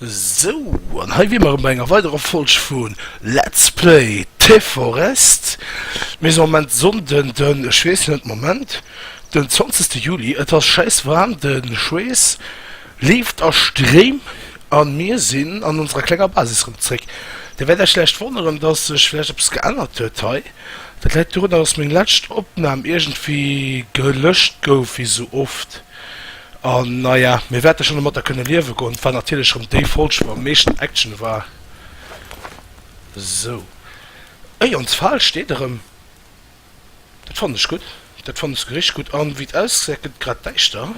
Sou, an hei wier mer erëm bei enger weiderer Folg vu Let's Play T-Forest. Mir sinn am Moment de Sonnden den, ech weess net, Moment, den zwanzegste Juli. Et ass schäisswaarm, de Schweess leeft a Stréim a mir sinn an onserer klenger Basis erëm zréck. Dir wäert iech vläicht wonneren, dass sech vläicht eppes geännert huet hei. Dat läit dorunner, dass meng lescht Opnam iergendwéi gelöscht gouf, wéi sou oft. An naja, mir wäerte schonn domatter kënne liewe goen. Et war natierlech erëm déi Folg, wou am meeschten Action war. Sou. Ui, ons Fal steet erëm. Dat fannen ech gutt. Dat fannen ech souguer richteg gutt. An wéi et ausgesäit, gëtt et grad däischter.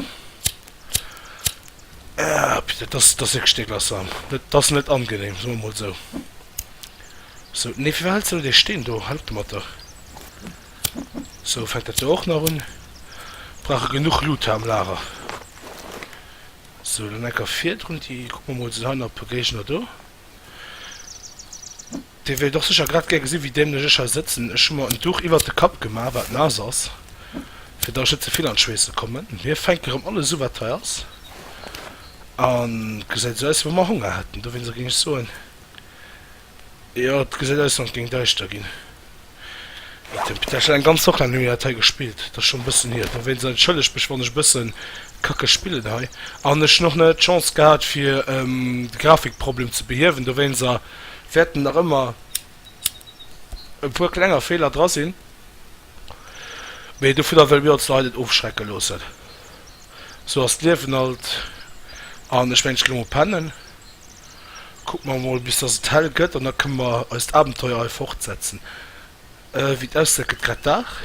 Äppi, dat ass, dat ass wierklech deeglassant. Dat, dat ass net angenehm, soe mer emol esou. Sou, nee, firwat hëls de net ee Steen do? Hei op de Matter. Sou fänkt dat jo och nach un. Brauch e genuch Loot hei am Lager. Sou, dann enker virdrun. Déi kucke mer mol, sinn hei nach e puer Géigner do. Dir wéilt och sécher grad gär gesinn, wéi dämlech ech hei sëtzen. Ech hu mer en Duch iwwert de Kapp gemaach, wat naass ass, fir datt ech net ze vill an d'Schweesse kommen. Mir fänke rëm alles u, wat hei ass. A gesäit esou aus, wéi wa mer Honger hätten. Dowéinst géing ech soen, Jo et gesäit aus wann et géing däischter ginn. Mat dem Peter Schneider, eng ganz Woch laang hu mir dat hei gespillt, dat ass schonn e bëssen hier. Dowéinst entschëllegt mech wann ech e bësse kacke spillen hei an ech hunn och net d'Chance gehat fir de Grafikproblem ze behiewen, dowéinst wäerten nach ëmmer e puer klenger Feeler dra sinn. Mee dovunner wëlle mir ons hei net ofschrecke loossen. Sou ass d'Liewen halt. An ech mengen, ech ginn emol pennen. Kucke mer emol, bis dass et hell gëtt, an da kënne mer eist Abenteuer hei fortsetzen. Wéi et ausgesäit, gëtt grad Dag.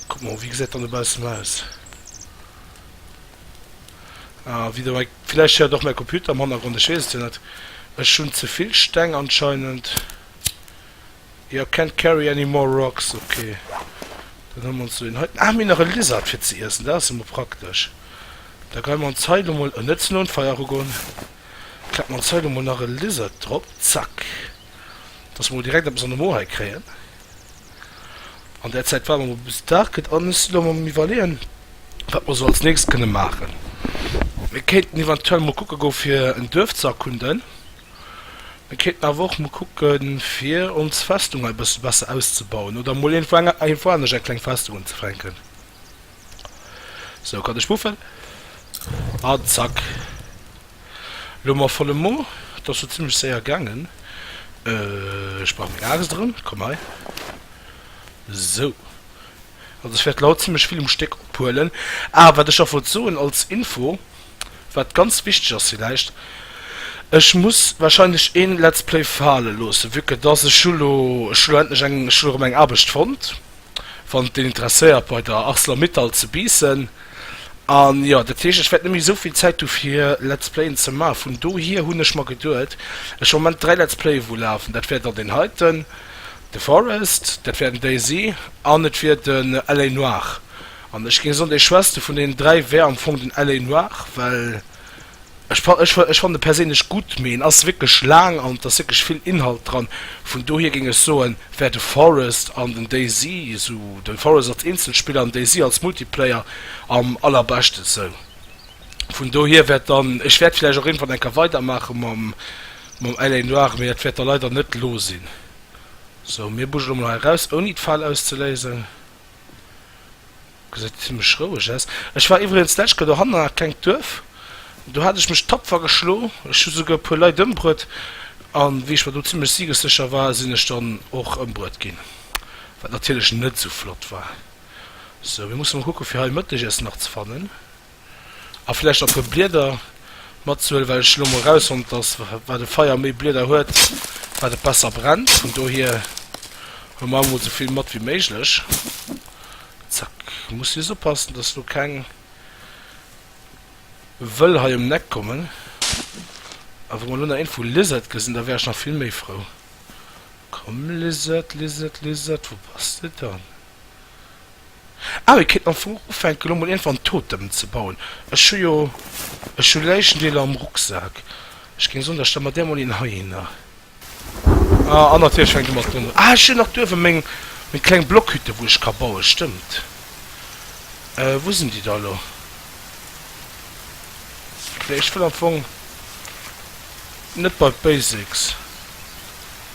Kucke mer, wéi gesäit et dann dobaussen aus? Ah, wieder mei. Villäicht héiert och mäi Computer am Hannergrond, ech weess et jo net. Ech hunn ze vill Steng anscheinend. Your can't carry any more rocks, ok. Dann huele mer ons do een hei. Ah, mir hunn nach e Lizard fir ze iessen, dat ass jo mol praktesch. Da geie mer ons hei lo mol, net ze no un d'Feier erugoen, klappe mer ons hei lo mol nach e Lizard drop, zack, dass mer mol direkt eppes an de Mo hei kréien. An där Zäit waarde mer mol bis Dag gëtt a musse lo mol am Iwwerleeën, wat mer sou als nächst kënne maachen. Mir kéinten eventuell mol kucke goe fir en Duerf ze erkunden. Mir kéinten awer och mol kucken, fir ons Festung hei e bësse besser auszebauen oder mol iergendwou eng, iergendwou anescht eng kleng Festung unzefänken. Sou, cut e Spuffel an zack. Elo ma volle Mo. Et ass jo zimmlech séier gaangen. Ech brauch meng Aaxt erëm. Komm hei. Sou. Also ech wäert lo haut zimmlech vill um Stéck ophuelen. Ah, wat ech nach wollt soen als Info. Wat ganz wichteg ass villäicht, ech muss wahrscheinlech een Let's Play faale loossen, vue que dass ech hu lo, ech hu lo endlech eng, ech hu lo rem eng Aarbecht fonnt, wann et een interesséiert, bei der Arcelor-Mittal ze Biissen. An jo, dat heescht, ech wäert net méi esou vill Zäit hu fir Let's Playen ze maachen. Vun dohier hunn ech mer geduet, ech hu am Moment dräi Let's Playe wou lafen, dat wier dann deen heiten, The Forest, dat wier den DayZ an et wier den LA Noire. An ech géing soen, dee schwächste vun deenen dräi wär am Fong den LA Noir, well ech fa, ech, ech fannen e perséinlech gutt, mee en ass wierklech laang an et ass wierklech vill Inhalt dran. Vun dohier géing ech soen, wär de Forest an den DayZ, sou de Forest als Eenzelspiller an den DayZ als Multiplayer, am allerbeschte sou. Vun dohier wäert dann, ech wäert vläicht och iergendwann eng Kéier weidermaache mam, mam LA Noir, mee dat wäert da leider net elo sinn. Sou, mir bugelen emol hei eraus, ouni d'Fal auszeléisen. Gesäit zimlech roueg aus. Ech war iwwregens d'lescht Kéier dohannen an dat klengt Duerf. Do hat ech mech tapfer geschlo. Ech hu souguer e puer Leit ëmbruet. An wéi ech mer do zimlech siegessécher war, sinn ech dann och ëmbruet ginn. Wat natierlech net esou flott war. Sou, mir musse mol kucke fir hei e Mëttegiessen nach ze fannen. a vläicht e puer Blieder matzehuelen, well ech elo mol erausfonnt, dass wat e Feier méi Blieder huet, wat et besser brennt. Vun dohier huele mer emol esou vill mat wéi méiglech. Zack. Muss just oppassen, dass do keng Wëll hei ëm d'Eck kommen. A wa mer elo nach een vu Lizard gesinn, da wär ech nach vill méi frou. Komm Lizard, Lizard, Lizard, wou bass de dann? Ah mir kéinten am Fong ufänken elo mol iergendwann Totemen ze bauen. Ech hu jo, ech hu Läichendeeler am Rucksak. Ech géing soen da stelle mer där mol een heihinner. Ah an natierlech fänkt e mat Blumm un. Ah ech hunn nach do uewe meng meng kleng Blockhütte wou ech ka bauen, stëmmt. Euh wou sinn déi da elo? Nee ech wëll am Fong net bei d'Basics.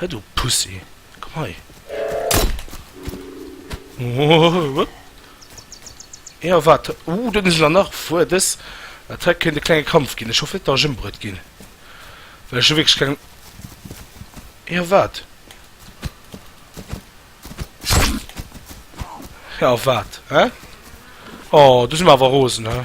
Hei du Pussy, komm hei! Hee a wat? Ooh, do sinn se nach erfuer. Dës Attack kéint e klenge Kampf ginn. Ech hoffen net, datt ech ëmbruet ginn, well ech hu wierklech keng. Hee a wat? Hee a wat, hä? Oh, do si mer awer rosen, hä?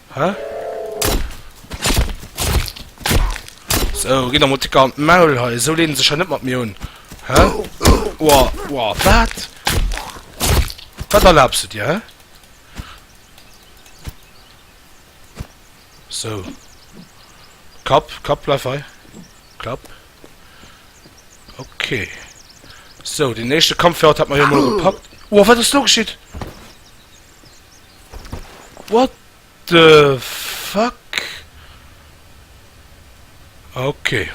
Hä? So, ginn der mol Ticker an d'Maul hei. Esou leene sech hei net mat mir un. Hä? Oua, oua, wat? Wat erlaabs du dir, hä? So. Kapp, Kapp, bleif hei. Klapp. Okay. So, den éischte Kampf fir haut hat mer jo mol gepackt. Oua, wat ass do geschitt? What the fuck? Ok.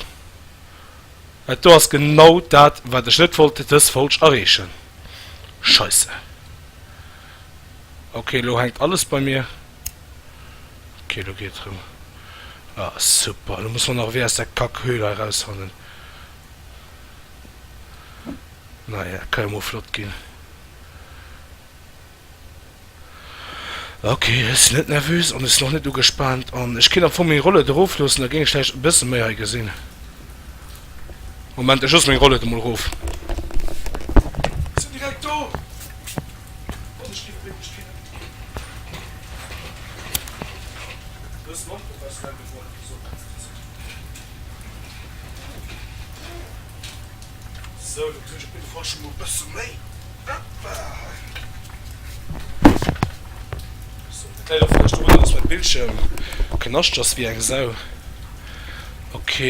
Dat do ass genau dat wat ech net wollt, dës Folg erreechen. Scheisse. Ok lo hänkt alles bei mir. Ok lo geet et rëm. Ah super, lo muss mer nach ewéi aus der Kack Höhle hei rausfannen. Naja, kann jo mol flott ginn. Ok, ech sinn net nervös an ech sinn och net ugespaant an ech kéint am Fong meng Rollëd erof loossen, da géing ech vläicht e bësse méi hei gesinn. Moment, ech loosse meng Rollëd emol erof. Ech sinn direkt do! An ech ginn e Bléck duerch d'Fenêtre. E bëssen onprofessionell, mee bon, esou kann een et jo soen. Sou, do kritt ech op jidde Fall scho mol e bësse méi. Hoppa! Sou, dat läit och vläicht dorun, datt mäi Bildschierm knascht ass wéi eng Sau. Ok.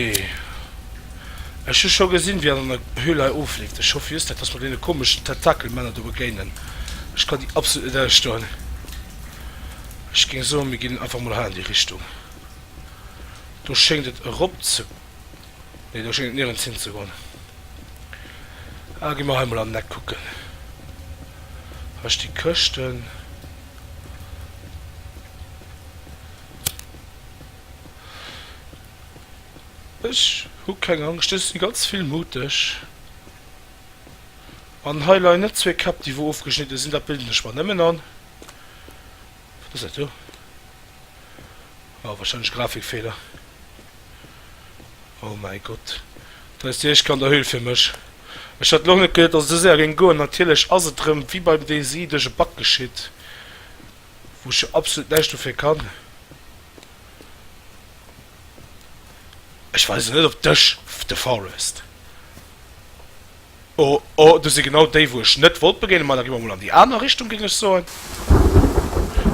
Ech hu scho gesinn, wéi en an der Höhle hei ofleeft. Ech hoffen just net, datt mer deene komeschen Tentakelmänner do begéinen. Ech kann déi absolut net ausstoen. Ech géing soen, mir ginn einfach mol hei an déi Richtung. Do schéngt et erop ze Nee, do schéngt et nirgends hin ze goen. Ah, gi mer hei mol an den Eck kucken. Hei sti Këschten. Ech hu keng Angscht, ech si ganz vill muteg. An hei leien net zwee Käpp, déi wou ofgeschnidde sinn. Dat bilden ech mer nëmmen an. Wat ass dat do? Oh wahrscheinlech Grafikfeeler. Oh mäi Gott. Dat ass déi éischt Kanderhöhl fir mech. Ech hat lo net geduet dass et esou séier géing goen. Natierlech ass et rëm wéi beim Daisy duerch e Bug geschitt, wou ech jo absolut näischt dofir kann. Ech war also net op dech, The Forest. Oh oh, do si genau déi, wou ech net wollt begéinen, ma da gi mer mol an déi aner Richtung, géing ech soen.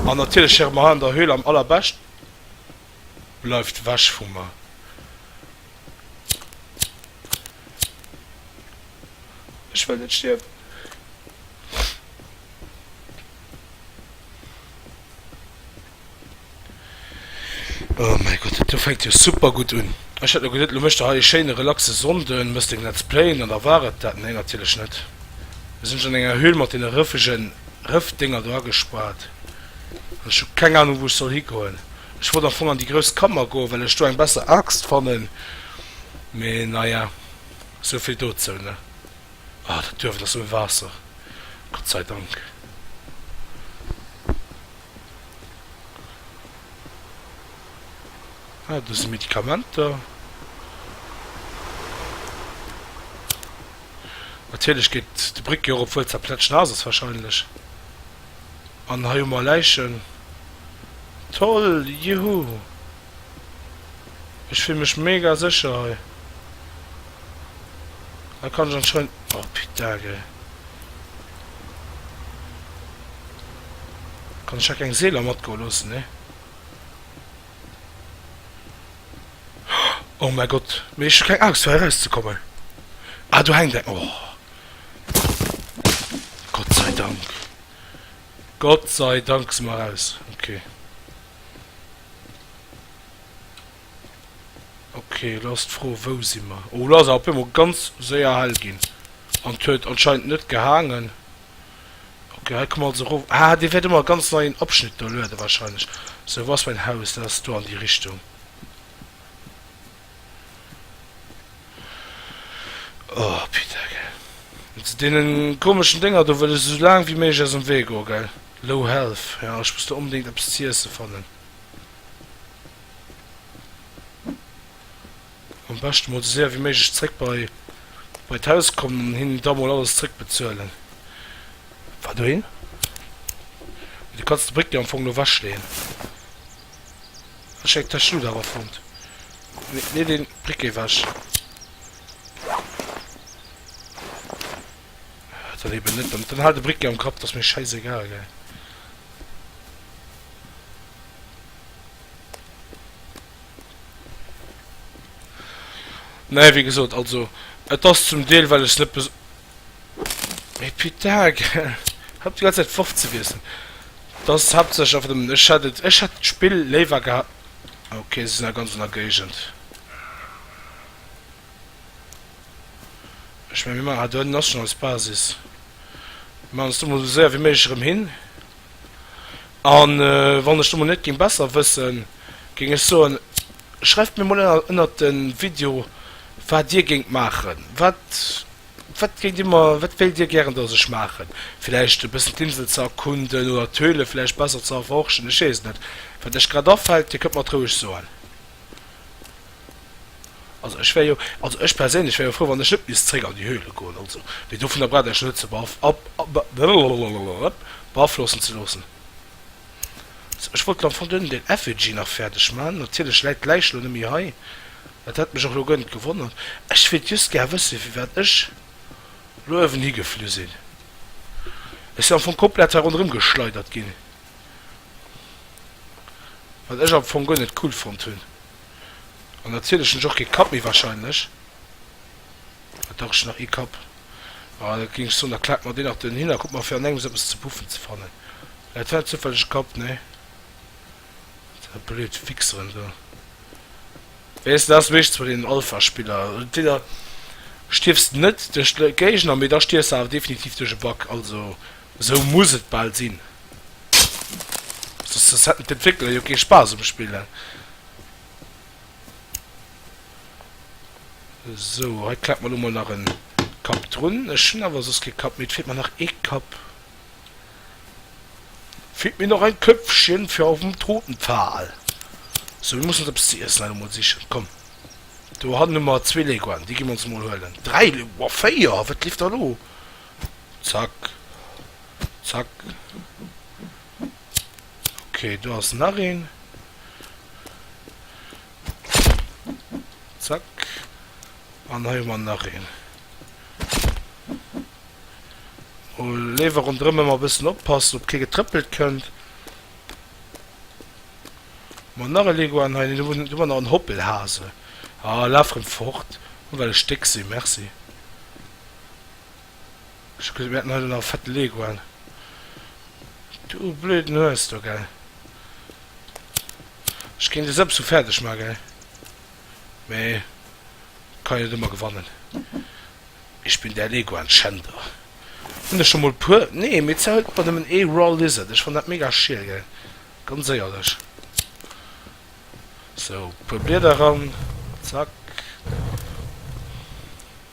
An natierlech hire mer hei an der Höhle am allerbescht. Bleift wech vu mer! Ech wëll net stierwen! Oh mäi Gott, dat do fänkt jo super gutt un. Ech hat lo geduet, lo mécht de hei ee schéine relaxe Sonnde, méchs deng Let's Playen an da war et dat. Nee, natierlech net. Ech sinn ech an enger Höhle mat deene rëffege Rëffdinger do agespaart an ech hu keng Anung, wou ech soll higoen. Ech wollt am Fong an déi grouss Kammer goen, well ech do eng besser Aaxt fannen, mee naja, sou vill dozou, ne. Oh, dat Duerf, et ass ouni Waasser, Gott sei Dank. Ah, do si Medikamenter. Natierlech geet déi Bréck jo erop, wuel se plätschnaass ass wahrscheinlech. An hei hu mer Läichen. Toll! Juhu! Ech fill mech mega secher hei. Hei kann ech anscheinend, oh putain gei. Kann ech hei keng Seeler matgoe loossen nee. Oh mein Gott, mee ech hu keng Angscht fir hei raus ze kommen. Ah do hänkt eng, oh Gott sei Dank. Gott sei Dank si mer raus, okay. Okay, lo ass d'Fro, wou si mer? Oh, lo ass et op eemol ganz séier hell ginn. An et huet anscheinend net gehaangen. Okay, hei kommen mer also erof. Ah, dee wäert ëmmer e ganz neien Abschnitt do lueden, warscheinlech. Sou, wou ass mäin Haus? Dat ass do an déi Richtung. Oh Peter gell. Mat deenen komeschen Dénger do wëll ech esou laang wéi méiglech aus dem Wee goen gell. Low health, ja ech muss do onbedéngt eppes ze iessen fannen. Am beschten mol esou séier wéi méiglech zréck bei bei d'Haus kommen an hinnen da mol alles zréck bezuelen. Wat dohin? Du kanns de Bréck jo am Fong lo wechleeën. Ech hätt dech lo awer fonnt. Nee, deen Brick géif ech. Dann eben net. Dann halt de Brick gär um Kapp, t'ass mir schäissegal, gell. Nee, wéi gesot, also et ass zum Deel well ech net. Mais putain, gell, hëpp déi ganz Zäit d'Worf ze wiesselen, et ass haaptsächlech einfach nëmmen, ech hätt et, ech hätt d'Spill léiwer geha, ah ok, se sinn a ganz aner Géigend, ech mengen, mir maachen hat, do hënten ass schonn eis Basis, mir maachen eis do mol esou séier wéi méiglech erëm hin, a wann ech do mol net géing besser wëssen, géing ech soen, schreift mir mol ënner, ënnert de Video, wat Dir géingt maachen, wat. Wat géint Dir mer, wat wéilt Dir gären, dass ech maachen? Villäicht e bëssen d'Insel ze erkunden oder d'Höhle villäicht besser ze erforschen? Ech weess et net. Wat lech grad afält, Dir kënnt mer et roueg soen. Also ech wär jo, also ech perséinlech wär jo frou, wann ech net misst zréck an déi Höhle goen, also. Mee dovunner braucht Iech net ze beaflossen ze loossen. Ech wollt lo am Fong duerno den Effigy nach fäerdeg maachen. Natierlech läit d'Läich lo net méi hei. Et hätt mech och lo gönnt gewonnert. Ech wéilt just gär wëssen, firwat ech lo uewen higeflu sinn. Ech sinn am Fong komplett hei ronderëm geschleidert ginn, wat ech am Fong guer net cool fonnt hunn. An natierlech hunn ech och kee Kapp méi, wahrscheinlech. Wat dach, ech hunn nach ee Kapp. Ah, da géing ech soen, da klaakt mer deen nach dohinner. Kuckt mer, fir an engems eppes ze puffen ze fannen. Läit hei zufälleg e Kapp? Nee. Dei blöd Fixeren do. Weess dass meeschtens bei den Alpha Spiller entweder stierfs de net duerch de Géigner mee da stierfs de awer definitiv duerch e Bug, also esou muss et bal sinn, soss soss hätten d'Entwéckler jo kee Spaass um Spillen. Esou hei klemmt mer lo mol nach en Kapp drun, ech hunn awer soss kee Kapp méi, et feelt mer nach ee Kapp. Feelt mir nach ein Köpfchen fir aufm toten Pfahl. So mir mussen eppes ze iessen emol sichen. Komm do hannen hu mer zwee Leguan, déi gi mer ons mol huelen. Dräi Legu wow véier, wat leeft da lo? Zack zack ok do ass nach een. Zack an hei hu mer nach een. O lewe rondrëm ëmmer bëssen oppassen op kee getrëppelt kënnt. Ma nach e Leguan hei, du du war nach en Hoppelhase. A laf rëm fort, hu well e Stéck si merci. Ech kucke mir haten hei do nach e fette Leguan. Du blöden Hues do gell. Ech géing dech sou fäerdeg man gell. mä et kann een net ëmmer gewannen. Ich bin der Leguan Schänder. Hunn der scho mol e puer? Nee, mee d'Sär huet mer nëmmen ee Raw Lizard. Ech fannen dat mega schiel, gell? Ganz éierlech. Sou, puer Blieder eran. Zack.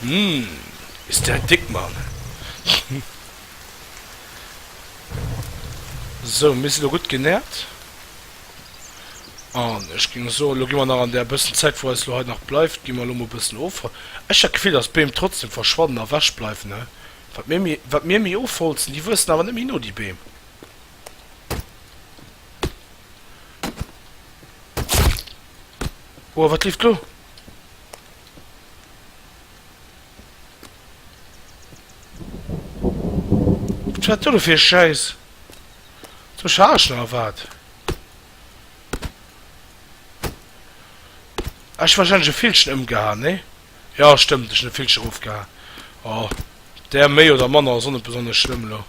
Hm, bis dat dick man. Sou, mir si lo gutt genährt. An ech géing soen, lo gi mer nach an där bëssen Zäit, wou eis lo hei nach bleift, gi mer lo mol bëssen of. Ech hat d'Gefill, dass d'Beem trotzdem verschwannen a wech bleiwen, he? Wat mir méi, wat mir méi ofholzen, déi wuessen awer net méi no, déi Beem. Oua, wat leeft lo? Wat do fir Schäiss ze chargen a wat? Ech wahrscheinlech e Villchen ëmgehaen, nee? Jo, stëmmt, ech hunn e Villchen erofgehaen. Oh, där méi oder manner ass och net besonnesch schlëmm elo.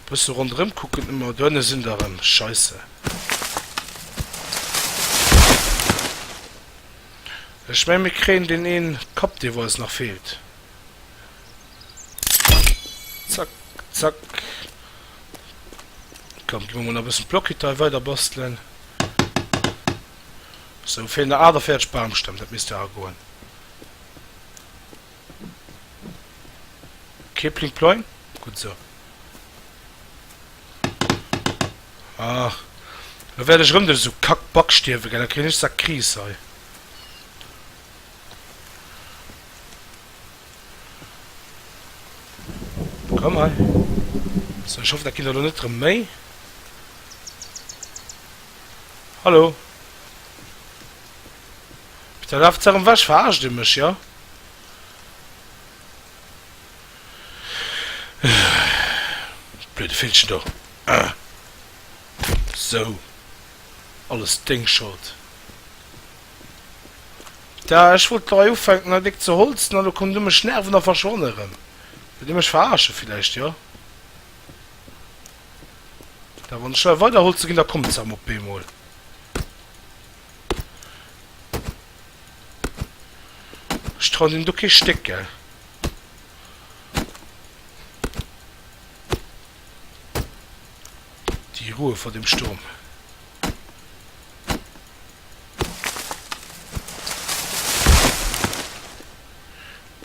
Bësse ronderëm kucken ëmmer. Do ënne sinn der erëm. Scheisse. Ech mengen mir kréien deen een Kapp dee wou eis nach feelt. Zack zack. Komm gi mer mol nach bëssen Blockitei weider bastelen. Sou feelen nach 48 Baumstämm, dat misst awer goen. Kee Pling Ploing? Gutt esou. Ach, elo wäert ech erëm duerch esou Kack-Back stierwen, gell? Da kréien ech sa Kris hei. Komm hei. Sou, ech hoffen, dat ginn der elo net erëm méi. Hallo? Mee da laaft se erëm weg. Verarscht Dir mech, jo? Blöde Villchen do. Sou. Alles deng Schold. Da, ech wollt lei ufänken hei déck ze holzen an elo kommt Dir mech nerven a verschwann erëm. Wëllt Dir mech verarsche villäicht, jo? Da wann ech lei weider holze ginn, da kommt se erëm op eemol. Ech trauen him do kee Stéck, gell? Die Ruhe vor dem Sturm.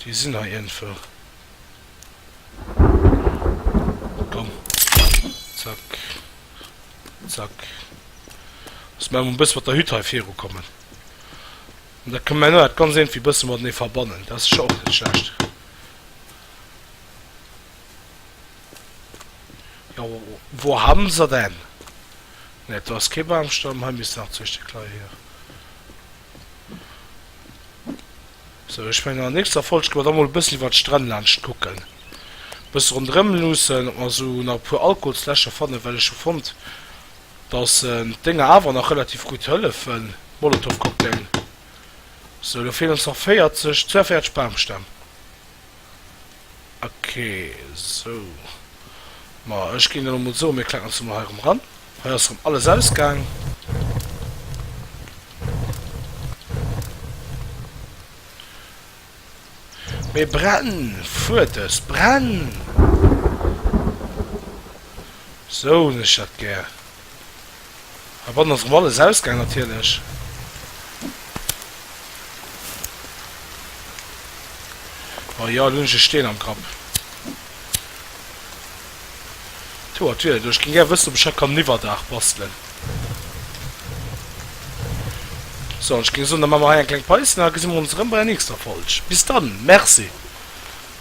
Déi sinn hei iergendwou. Komm, zack. Zack. Muss mer emol e bësse mat der Hütt hei virukommen. An da kënne mer elo dat ganz iergendwéi e bësse matenee verbannen. Dat ass sécher och net schlecht. Jo, wo haben se denn? Nee, do ass kee Bamstamm. Hei misst nach zwee Stéck leie, jo. Sou, ech mengen an der nächster Folg ginn mer da mol e bëssi iwwert d'Stränn laanscht kucken, e bësse ronderëm luussen, ob mer sou nach e puer Alkoholsläscher fannen, well ech hu fonnt, dass d'Dénger awer nach relativ gutt hëllefen, Molotowcocktail. Sou, elo feelen ons nach 40, 42 Bamstämm. Ok, sou. Ma ech ginn elo mol soen, mir kletteren ons emol hei erëm eran. Hei ass erëm alles ausgaang. Mee brenn! Fuert es! Brenn! Sou hunn ech dat gär. Hei bannen ass erëm alles ausgaang natierlech. Oh jo, elo hunn ech e Steen am Kapp. Tour Toilette, oh ech géing gär wëssen ob ech hei kann en Iwwerdaach bastelen. So, an ech géing soen da maache mer hei eng kleng Päus an da gesi mer ons erëm bei der nächster Folg. Bis dann, Merci.